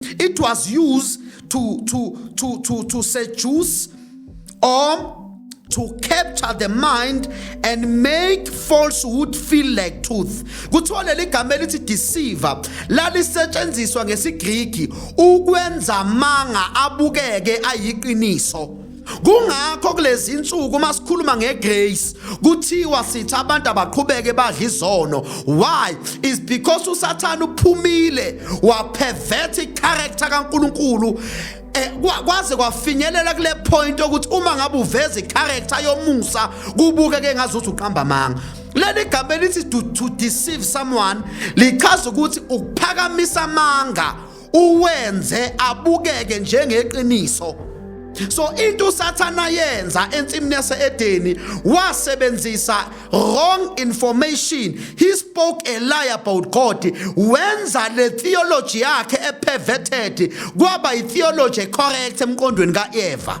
It was used to, to, to, to, to seduce or to capture the mind and make falsehood feel like truth kuthiwa leli gama elithi deceiver lalisetshenziswa ngesigriki ukwenza amanga abukeke ayiqiniso Kungakho kulezi insuku uma sikhuluma ngegrace kuthiwa sithi abantu abaqhubeke badla izono. Why? Is because uSathane uphumile wapervert icharacter kaNkuluNkulu eh, kwaze kwafinyelela kule point ukuthi uma ngabe uveza icharacter yomusa kubuke ke ngazuthi uqamba amanga leli gama elithi to deceive someone lichaza ukuthi ukuphakamisa amanga uwenze abukeke njengeqiniso so into usathana yenza ensimini yaseedeni wasebenzisa wrong information he spoke a lie about god wenza le theology yakhe eperverted kwaba itheology correct emqondweni kaeva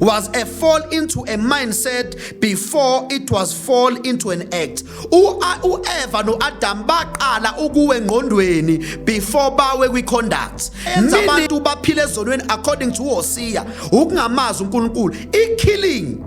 was a fall into a mindset before it was fall into an act uEva noAdam baqala ukuwe engqondweni before bawe kwiconduct enza abantu baphile ezonweni according to Hosea ukungamazi uNkulunkulu ikilling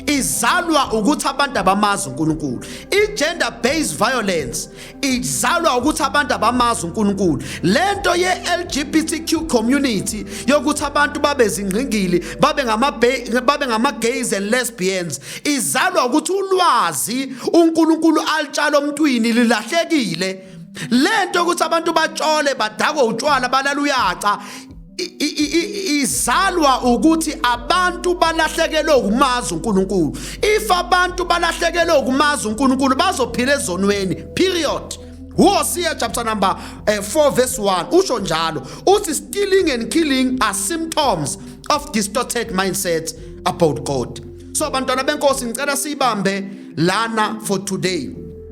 izalwa ukuthi abantu abamazi uNkulunkulu i-gender based violence izalwa ukuthi abantu abamazi uNkulunkulu lento ye LGBTQ community yokuthi abantu babe zingqingili babe ngama babe ngama gays and lesbians izalwa ukuthi ulwazi uNkulunkulu alitshala omntwini lilahlekile lento ukuthi abantu batshole badakwe utshwala balala uyaca izalwa ukuthi abantu balahlekelwe ukumazi uNkulunkulu if abantu balahlekelwe ukumazi uNkulunkulu bazophila ezonweni period Hosea chapter number uh, eh, 4 verse 1 usho njalo uthi stealing and killing are symptoms of distorted mindset about God so bantwana benkosi ngicela siyibambe lana for today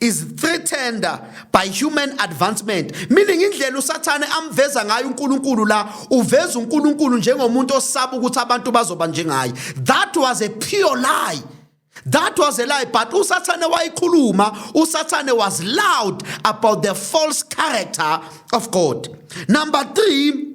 is threatened by human advancement meaning indlela usathane amveza ngayo uNkulunkulu la uveza uNkulunkulu njengomuntu osaba ukuthi abantu bazoba njengaye that was a pure lie That was a lie, but uSathane wayikhuluma, uSathane was loud about the false character of God. Number 3,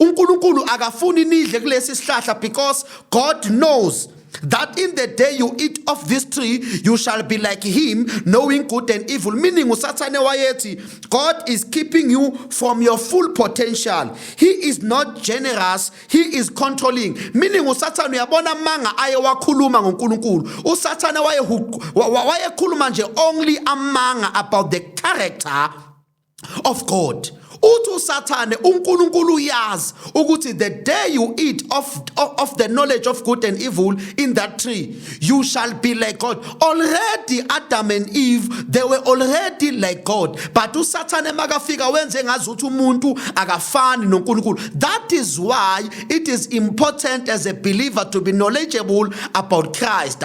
uNkulunkulu akafuni nidle kulesi sihlahla because God knows that in the day you eat of this tree you shall be like him knowing good and evil meaning usathane wayethi god is keeping you from your full potential he is not generous he is controlling meaning usathane uyabona amanga aye wakhuluma ngonkulunkulu usathane wayekhuluma nje only amanga about the character of God uthi usathane uNkulunkulu uyazi ukuthi the day you eat of, of the knowledge of good and evil in that tree you shall be like God already Adam and Eve they were already like God but usathane makafika wenze ngazi ukuthi umuntu akafani noNkulunkulu that is why it is important as a believer to be knowledgeable about Christ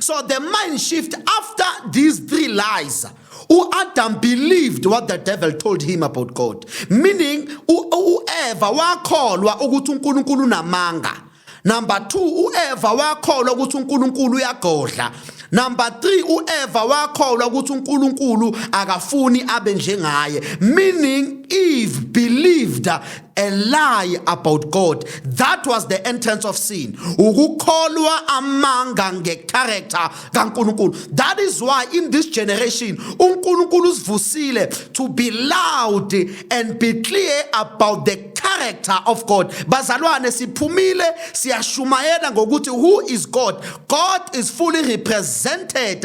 So the mind shift after these three lies, u Adam believed what the devil told him about God. Meaning u Eva wakholwa ukuthi uNkulunkulu unamanga. Number 2 u Eva wakholwa ukuthi uNkulunkulu uyagodla. Number 3 u Eva wakholwa ukuthi uNkulunkulu akafuni abe njengaye. Meaning Eve believed a lie about God that was the entrance of sin ukukholwa amanga ngecharacter kaNkulunkulu that is why in this generation uNkulunkulu usivusile to be loud and be clear about the character of God bazalwane siphumile siyashumayela ngokuthi who is God God is fully represented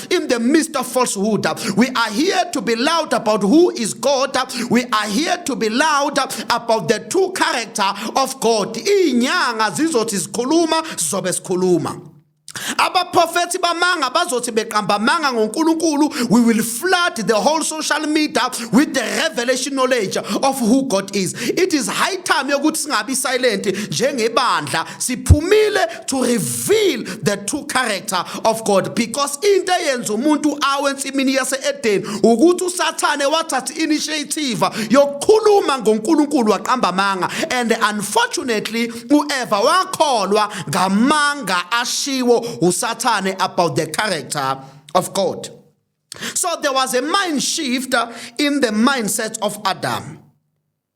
Christ in the midst of falsehood. We are here to be loud about who is God. We are here to be loud about the true character of God. Inyanga zizothi sikhuluma sizobe sikhuluma. abaprofethi bamanga bazothi beqamba amanga ngoNkulunkulu we will flood the whole social media with the revelation knowledge of who God is it is high time yokuthi singabi silent njengebandla siphumile to reveal the true character of God because into eyenza umuntu awe ensimini yase-edeni ukuthi usathane wathatha initiative yokukhuluma ngonkulunkulu waqamba amanga and unfortunately ueva wakholwa ngamanga ashiwo usathane about the character of god so there was a mind shift in the mindset of adam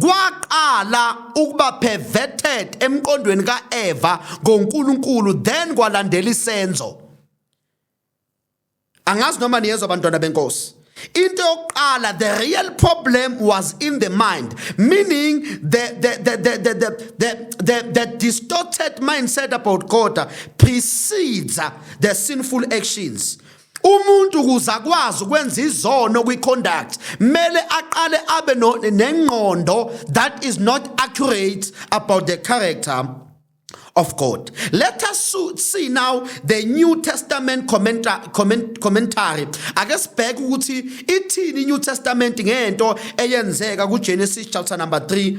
kwaqala ukuba perverted emqondweni kaEva ngoNkulunkulu then kwalandela isenzo angazi noma niyezwa abantwana benkosi into yokuqala the real problem was in the mind meaning the the the the the the, the, the, the distorted mindset about God precedes the sinful actions umuntu ukuze akwazi ukwenza izono kwi-conduct mele aqale abe nengqondo that is not accurate about the character of God. Let us see now the New Testament commenta comment commentary. Ake sibheke ukuthi ithini iNew Testament ngento eyenzeka kuGenesis chapter number 3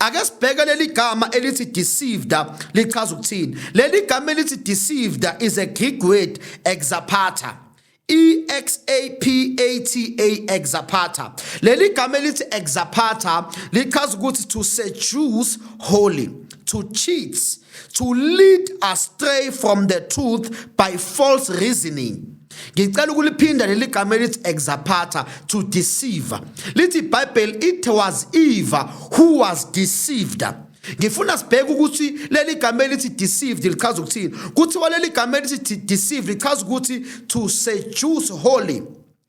Ake sibheke leli gama elithi deceived lichaza ukuthini. Leli gama elithi deceived is a Greek word exapata. E X A P A T A exapata. Leli gama elithi exapata lichaza ukuthi to seduce wholly, to cheat to lead astray from the truth by false reasoning ngicela ukuliphinda leli gama elithi exapata to deceive lithi ibhayibheli it was eva who was deceived ngifuna sibheke ukuthi leli gama elithi deceived lichaza ukuthini kuthiwa leli gama elithi deceived lichaza ukuthi to seduce holy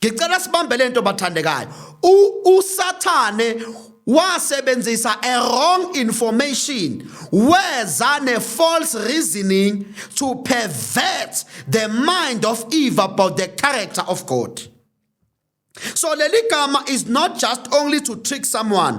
ngicela sibambe lento bathandekayo usathane wasebenzisa a wrong information weza ne false reasoning to pervert the mind of eve about the character of god so leli gama is not just only to trick someone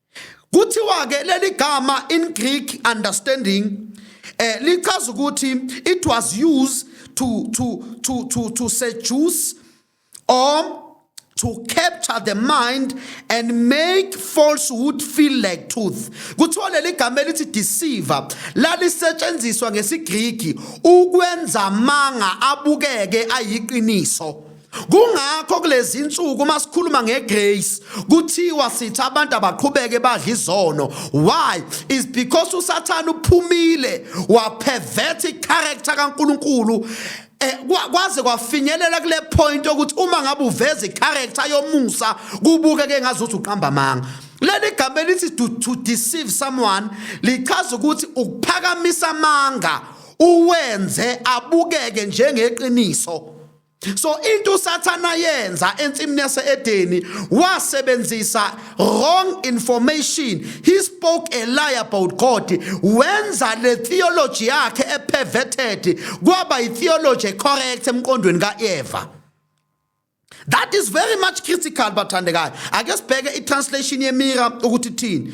Kuthiwa ke leli gama in Greek understanding eh lichaza ukuthi it was used to to to to to seduce or to capture the mind and make falsehood feel like truth kuthiwa leli gama elithi deceiver lalisetshenziswa ngesigriki ukwenza amanga abukeke ayiqiniso Kungakho kulezi insuku uma sikhuluma ngegrace kuthiwa sithi abantu abaqhubeke badla izono. Why? Is because uSathane uphumile wapervert icharacter kaNkulunkulu eh, kwaze kwafinyelela kule point ukuthi uma ngabe uveza icharacter yomusa kubuke ke ngazuthi uqamba manga leli gama elithi to, to deceive someone lichaza ukuthi ukuphakamisa amanga uwenze abukeke njengeqiniso so into usathana yenza ensimini yaseedeni wasebenzisa wrong information he spoke a lie about god wenza le theology yakhe eperverted kwaba itheology ecorrect emqondweni kaeva that is very much critical bathandekayo ake sibheke itranslation yemira ukuthi thini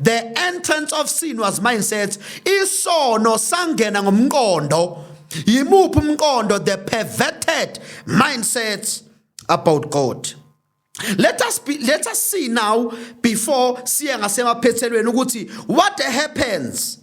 the entrance of sin was mindset isono sangena ngomqondo yimuphi umqondo the perverted mindsets about god let us be, let us see now before siye ngasemaphethelweni ukuthi what happens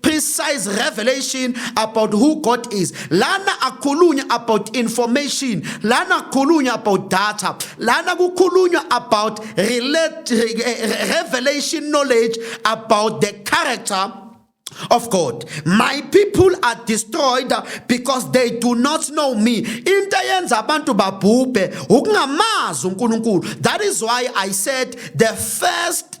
precise revelation about who God is. Lana akhulunywa about information, lana akhulunywa about data, lana kukhulunywa about relate, revelation knowledge about the character of God. My people are destroyed because they do not know me. Into eyenza abantu babhubhe ukungamazi uNkulunkulu. That is why I said the first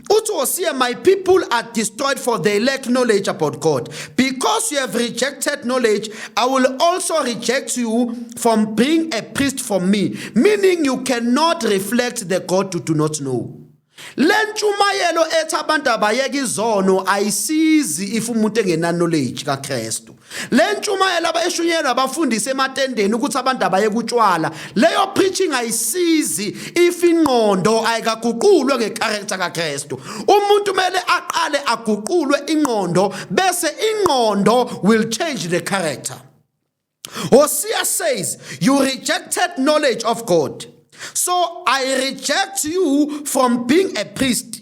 uthi wosiye my people are destroyed for they lack knowledge about god because you have rejected knowledge i will also reject you from being a priest for me meaning you cannot reflect the god you do not know le ntshumayelo ethi abantu abayeke izono ayisizi if umuntu engenaknowledge kakristu le ntshumayelo abayishunyelwa abafundisi ematendeni ukuthi abantu abaye kutshwala leyo preaching ayisizi if ingqondo ayikaguqulwe ngecharacter kaKristu umuntu kumele aqale aguqulwe ingqondo bese ingqondo will change the character Hosea says you rejected knowledge of God so I reject you from being a priest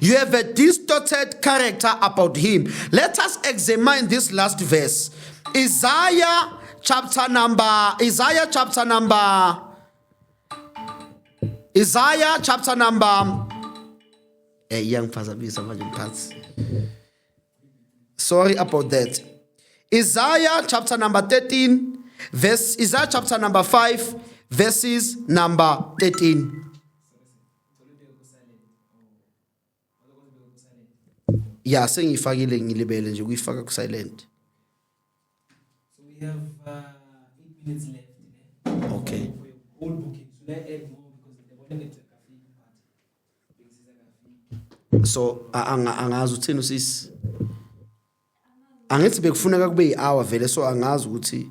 You have a distorted character about him. Let us examine this last verse. Isaiah chapter number Isaiah chapter number Isaiah chapter number eh iyangiphazamisa manje mphathi. Sorry about that. Isaiah chapter number 13 verse Isaiah chapter number 5 verses number 13. ya sengiyifakile ngilibele nje kuyifaka ku silent so we have uh, 8 minutes left ne? okay all bookings should i add more because the bonnet akafiki but bengisiza akafiki so a- anga- angazi uthini usisi angithi bekufuneka kube yi-hour vele so angazi ukuthi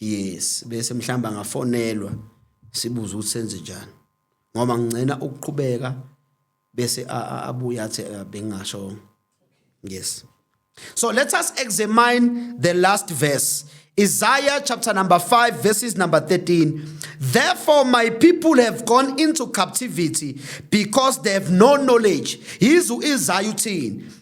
yes bese mhlamba ngafonelwa sibuza ukuthi senze njani ngoba ngicela ukuqhubeka bese abuye athi eh, bengingasho yes so let us examine the last verse Isaiah chapter number 5, verses number 13. Therefore, my people have gone into captivity because they have no knowledge. Yizu Isaiah 10.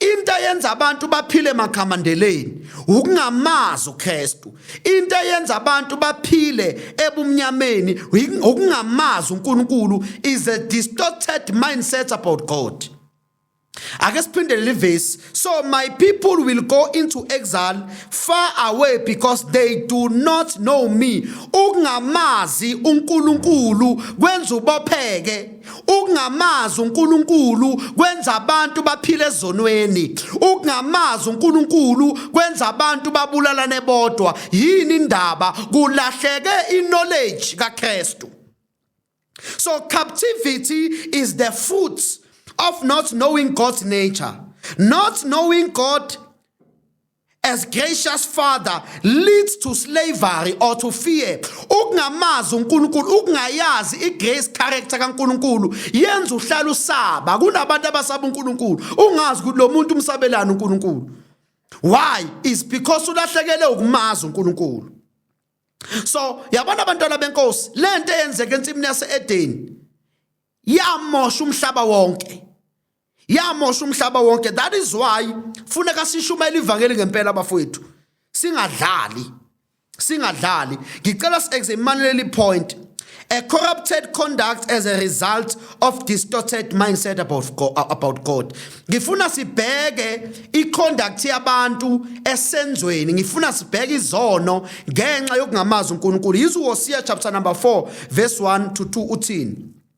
into eyenza abantu baphile makhamandeleni ukungamazi uKristu into eyenza abantu baphile ebumnyameni ukungamazi uNkulunkulu is a distorted mindset about God ake siphindele livesi so my people will go into exile far away because they do not know me ukungamazi uNkulunkulu kwenza ubopheke Ukungamazi uNkulunkulu kwenza abantu baphile ezonweni. Ukungamazi uNkulunkulu kwenza abantu babulalane bodwa. Yini indaba? Kulahleke i-knowledge kaKristu. So captivity is the fruit of not knowing God's nature. Not knowing God as gracious father leads to slavery or to fear ukungamazi uNkulunkulu ukungayazi igrace character kaNkulunkulu yenza uhlala usaba kunabantu abasaba uNkulunkulu ungazi ukuthi lo muntu umsabelana uNkulunkulu why is because ulahlekele ukumazi uNkulunkulu so yabona abantwana benkosi lento eyenzeka ensimini yaseEden yamosha umhlaba wonke yamosha umhlaba wonke that is why funeka sishumayele ivangeli ngempela bafowethu singadlali singadlali ngicela si-examinele leli point a corrupted conduct as a result of distorted mindset about God, about God. ngifuna sibheke iconduct yabantu esenzweni ngifuna sibheke izono ngenxa yokungamazi uNkulunkulu yizo Hosea chapter number 4 verse 1 to 2 uthini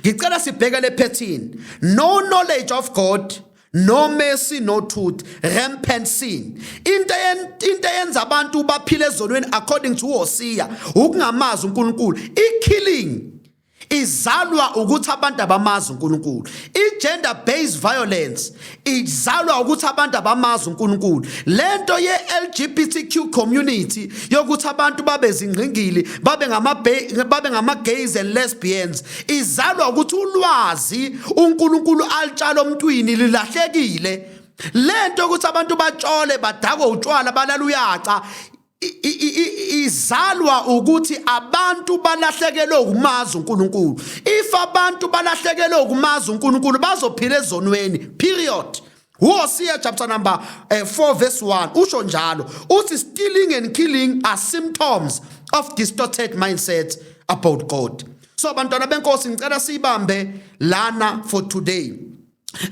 ngicela sibheke le phethini no knowledge of god no mercy no truth rampant sin into into yenza abantu baphile ezonweni according to Hosea ukungamazi uNkulunkulu i killing izalwa ukuthi abantu abamazi uNkulunkulu i gender based violence izalwa ukuthi abantu abamazi uNkulunkulu lento ye LGBTQ community yokuthi abantu babe zingqingili babe ngama babe ngama gays and lesbians izalwa ukuthi ulwazi uNkulunkulu alitshala omntwini lilahlekile lento ukuthi abantu batshole badakwe utshwala balala uyaca izalwa ukuthi abantu balahlekelwe ukumazi uNkulunkulu if abantu balahlekelwe ukumazi uNkulunkulu bazophila ezonweni period Hosea chapter number uh, eh, 4 verse 1 usho njalo uthi stealing and killing are symptoms of distorted mindset about God so bantwana benkosi ngicela siyibambe lana for today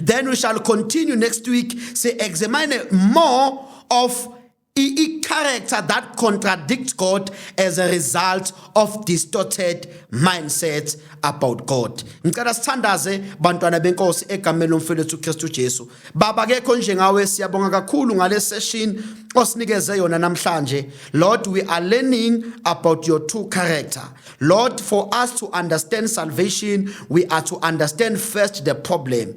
then we shall continue next week say examine more of i-character that contradicts God as a result of distorted mindsets about God. Ngicela sithandaze bantwana benkosi egameni lomfelethu uKristu Jesu. Baba kekho njengawe siyabonga kakhulu ngale session osinikeze yona namhlanje. Lord we are learning about your true character. Lord for us to understand salvation we are to understand first the problem.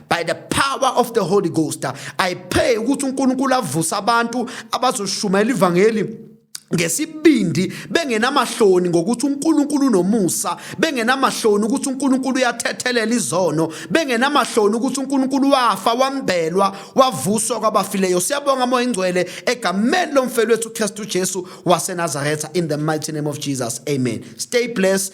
by the power of the holy ghost i pray ukuthi unkulunkulu avuse abantu abazoshumayela ivangeli ngesibindi bengenamahloni ngokuthi uNkulunkulu unomusa bengenamahloni ukuthi uNkulunkulu uyathethelela izono bengenamahloni ukuthi uNkulunkulu wafa wambelwa wavuswa kwabafileyo siyabonga moya ingcwele egameni lomfelo wethu uKristu Jesu waseNazaretha in the mighty name of Jesus amen stay blessed